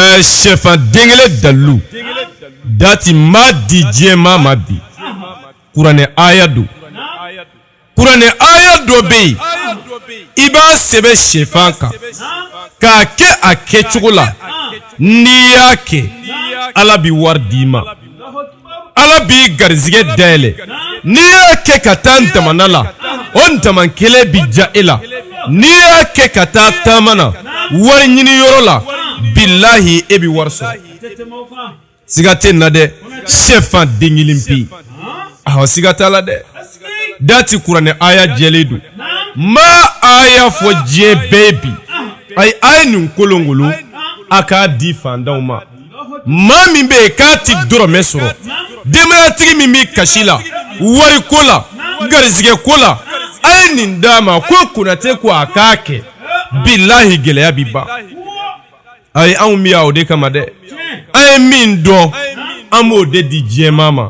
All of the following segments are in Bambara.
Ɛɛ shɛfan den kelen dalilu dati ma di diɲɛ maa ma bi kuranɛ aya don kuranɛ aya dɔ bɛ yen i b'a sɛbɛ shɛfan kan k'a kɛ a kɛ cogo la n'i y'a kɛ ala bɛ wari di i ma ala b'i garijɛgɛ dayɛlɛ n'i y'a kɛ ka taa damanda la o daman kelen bɛ diya e la n'i y'a kɛ ka taa taama na wari ɲini yɔrɔ la bilayi e bɛ wari sɔrɔ siga tɛ na dɛ shɛfan den kelen pe awa siga t'a la dɛ dati kuranɛ aya jɛlen don ma a y'a fɔ diɲɛ bɛɛ bi a ye a ye nin kolonkolon a k'a di fantanw ma maa min bɛ yen k'a tɛ dɔrɔmɛ sɔrɔ denbayatigi min bɛ kasi la wari ko la garijɛgɛ ko la a ye nin d'a ma ko konatɛ ko a k'a kɛ bilahi gɛlɛya bɛ ban a ye anw bɛ yan o de kama dɛ an ye min dɔn an b'o de di diɲɛ maa ma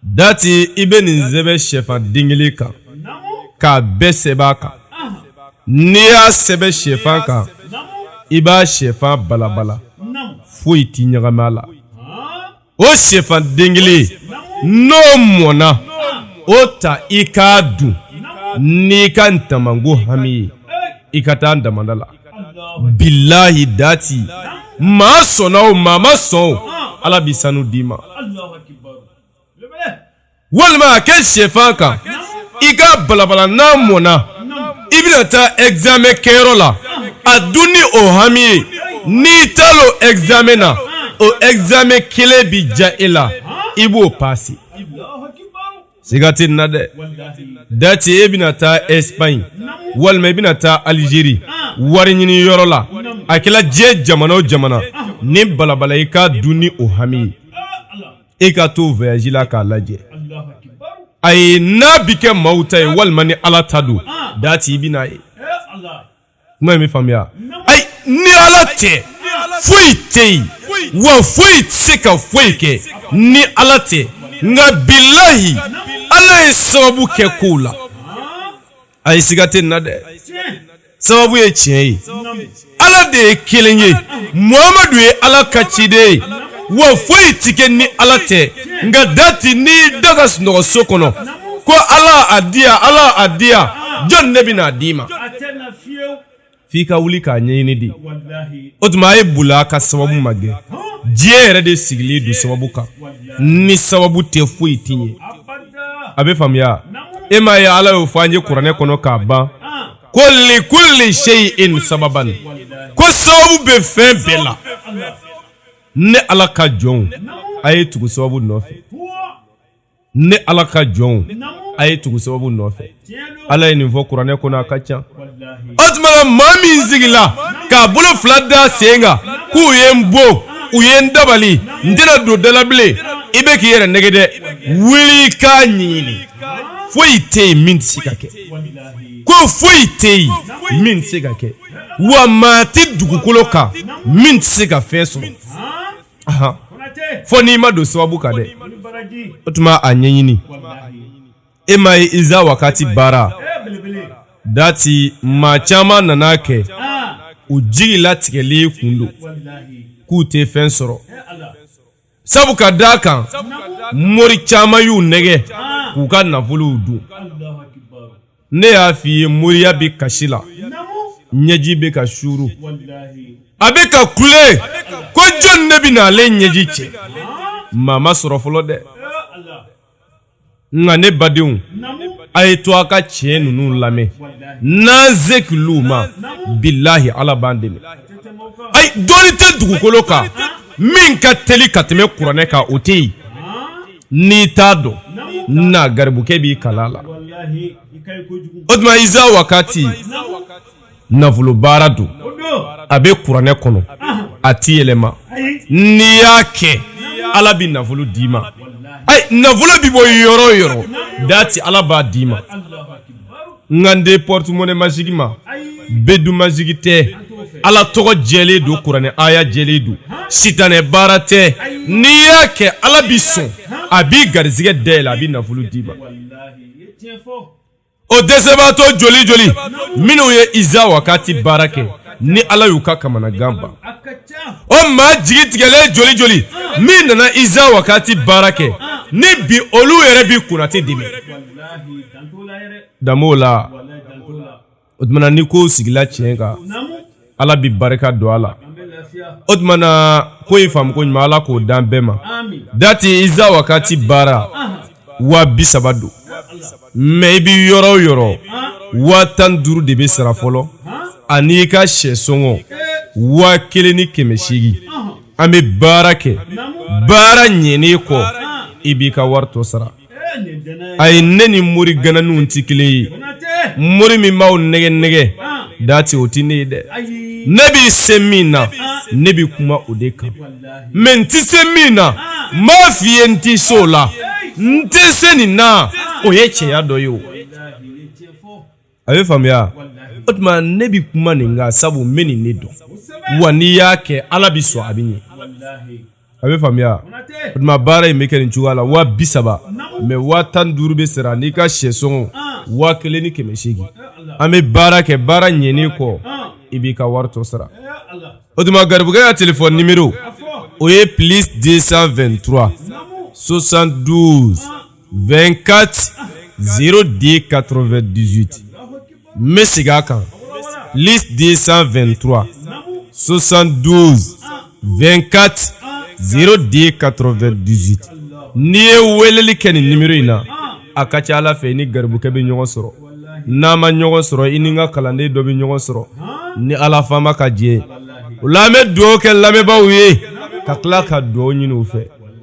Dati i bɛ nin sɛbɛn shɛfan den kelen kan k'a bɛɛ sɛbɛn a kan n'i y'a sɛbɛn shɛfan kan i b'a shɛfan balabala foyi tɛ ɲagami a la o shɛfan den kelen n'o mɔnna o ta i k'a dun n'i ka damanko hami ye i ka taa damanda la bilayi dati maa sɔnna o maa ma sɔn o ala bɛ sanu d'i ma walima a kɛ shɛfan kan i k'a balabala n'a mɔnna i bɛna taa ɛgzamɛ kɛyɔrɔ la a dun ni o hami ye n'i taala o ɛgzamɛ na o ɛgzamɛ kelen bi diya e la i b'o pase. siga tɛ na dɛ dati e bɛna taa espagne walima i e bɛna taa algérie wari ɲini yɔrɔ la a kɛla diɲɛ jamana o jamana nin balabala i k'a dun ni o hami ye e ka t'o voyage la k'a lajɛ ayi n'a bi kɛ maaw ta ye walima ni ala ta don dati i bɛn'a ye kuma in bɛ faamuya ayi ni ala tɛ foyi tɛ yen wa foyi tɛ se ka foyi kɛ ni ala tɛ nka bilahi ala ye sababu kɛ kow la ayi siga tɛ nin na dɛ sababu ye tiɲɛ ye ala de ye kelen ye muhamadu ye ala ka ciden ye wa foyi tɛ kɛ ni ala tɛ nka dati n'i da ka sunɔgɔ so kɔnɔ ko ala a di yan ala a di yan jɔn ne bɛna a d'i ma f'i ka wuli k'a ɲɛɲini de o tuma a ye bula ka sababu magɛn diɲɛ yɛrɛ de sigilen don sababu kan ni sababu tɛ foyi tɛ ɲɛ a bɛ faamuya e m'a ye ala y'o fɔ an ye kuranɛ kɔnɔ k'a ban ko li kulli shay'in sababan ko sababu bɛ fɛn bɛɛ la ne ala ka jɔnw a ye tugu sababu nɔfɛ ne ala ka jɔnw a ye tugu sababu nɔfɛ ala ye nin fɔ kuranɛ kɔnɔ a ka ca o tuma maa min sigila k'a bolo fila d'a sen kan k'u ye n bon u ye n dabali n tɛna don dalabilen i bɛ k'i yɛrɛ nɛgɛ dɛ wuli k'a ɲɛɲini foyi tɛ yen min tɛ se ka kɛ ko foyi tɛ yen min tɛ se ka kɛ wa maa tɛ dugukolo kan min tɛ se ka fɛn sɔrɔ fo n'i ma don sababu kan dɛ o tuma a ɲɛɲini e m'a ye iza wakati baara dati maa caman nana kɛ u jigi latigɛlen kun don k'u tɛ fɛn sɔrɔ sabu ka d'a kan mori caman y'u nɛgɛ k'u ka nafolow dun ne y'a f'i ye moriya bɛ kasi la ɲɛji bɛ ka suuru a bɛ ka kule ko jɔn ne bɛna ale ɲɛji cɛ maa ma sɔrɔ fɔlɔ dɛ nka ne badenw a y'a to an ka tiɲɛ ninnu lamɛn n'an se k'olu ma bilahi ala b'an dɛmɛ ayi dɔnni tɛ dugukolo kan min ka teli ka tɛmɛ kuranɛ kan o tɛ yen n'i t'a dɔn na garibukɛ b'i kalan a la o tuma iza wakati nafolo baara don a bɛ kuranɛ kɔnɔ a tɛ yɛlɛma n'i y'a kɛ ala bɛ nafolo d'i ma ayi nafolo bɛ bɔ yɔrɔ o yɔrɔ dati ala b'a d'i ma n kan tɛ porte-monnaie magique ma bedu magique tɛ ala tɔgɔ jɛlen don kuranɛ aya jɛlen don sitanɛ baara tɛ n'i y'a kɛ ala b'i sɔn a b'i garijɛgɛ dayɛlɛ a bɛ nafolo d'i ma o dɛsɛbaatɔ joli joli minnu ye iza wakati baara kɛ ni ala y'u ka kamanagan ban o maa jigi tigɛlen joli joli min nana iza wakati baara kɛ ni bi olu yɛrɛ bi kunnati dɛmɛ danbew la o tuma ni ko sigila tiɲɛ kan ala bɛ barika don a la o tuma na ko in faamuko ɲuman ala k'o dan bɛɛ ma dati iza wakati baara waa bi saba don mais i bɛ yɔrɔ o yɔrɔ waa tan duuru de bɛ sara fɔlɔ ani i ka sɛ sɔngɔ waa kelen ni kɛmɛ seegin an bɛ baara kɛ baara ɲɛnen kɔ i b'i ka wari tɔ sara a ye ne ni mori gananinw tɛ kelen ye mori min b'aw nɛgɛ nɛgɛ dati o tɛ ne ye dɛ ne bɛ se min na ne bɛ kuma o de kan mais n tɛ se min na n b'a f'i ye n tɛ se o la n tɛ se nin na o ye cɛya dɔ ye o a bɛ faamuya o tuma ne bɛ kuma nin kan sabu n bɛ nin ne dɔn wa n'i y'a kɛ ala bɛ sɔn a bɛ ɲɛ a bɛ faamuya o tuma baara in bɛ kɛ nin cogoya la waa bi saba mais waa tan duuru bɛ sara n'i ka sɛ sɔngɔ waa kelen ni kɛmɛ seegin an bɛ baara kɛ baara ɲɛnen kɔ i b'i ka wari tɔ sara o tuma garibukɛ ka téléphone numéro o ye plus deux cent vingt-trois soixante-douze 2kati z de kato2 dizoti n bɛ segin a kan de san2tura sosan don bɛnkati z de kato2 disi n'i ye weleli kɛ nin nibriro in na a ka ca ala fɛ i ni garibukɛ bɛ ɲɔgɔn sɔrɔ n'a ma ɲɔgɔn sɔrɔ i ni ka kalanden dɔ bɛ ɲɔgɔn sɔrɔ ni ala faama ka diɲɛ u la an bɛ dɔw kɛ lamɛnbaa ye ka tila ka dugaw ɲini u fɛ